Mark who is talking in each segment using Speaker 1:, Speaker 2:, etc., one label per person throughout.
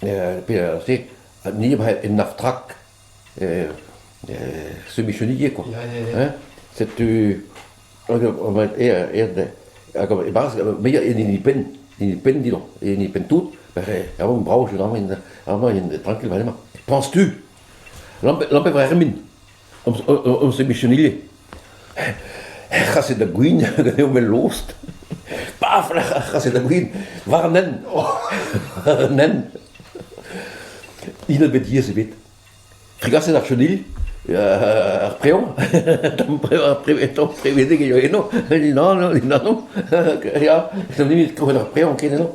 Speaker 1: Perzh eo Nibret en Artrak, semicheniek kwa, hein? Setu e-barzh muiañ en hini penn, hini penn didon, e hini penn tout, a-raok brav, amañ int trankil war emañ. Penses-tu? Lampe Vremin. Hon sebision ivez. He c'haset da gwin ganeomp el lost. Paf, ar c'haset da gwin war an hent. An hent. Hin bet diaes ebet. Tregaset ar chenil, ar preo, tamm prevedek eo eno, nan, nan, ya, tamm nimit krouet ar preo ken eno.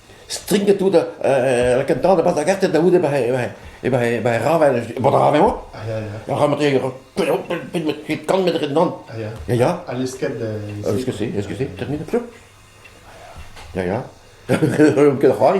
Speaker 1: stringet tout lakaat an traoñ da barzh ar gartenn da c'houde ba he ravel. Bod rav eo. Ur rametr kantmet rindan. Ya, ya. Ha lesket.
Speaker 2: Eskuse,
Speaker 1: eskuse, termine plus. Ya, ya. Ket c'hoari.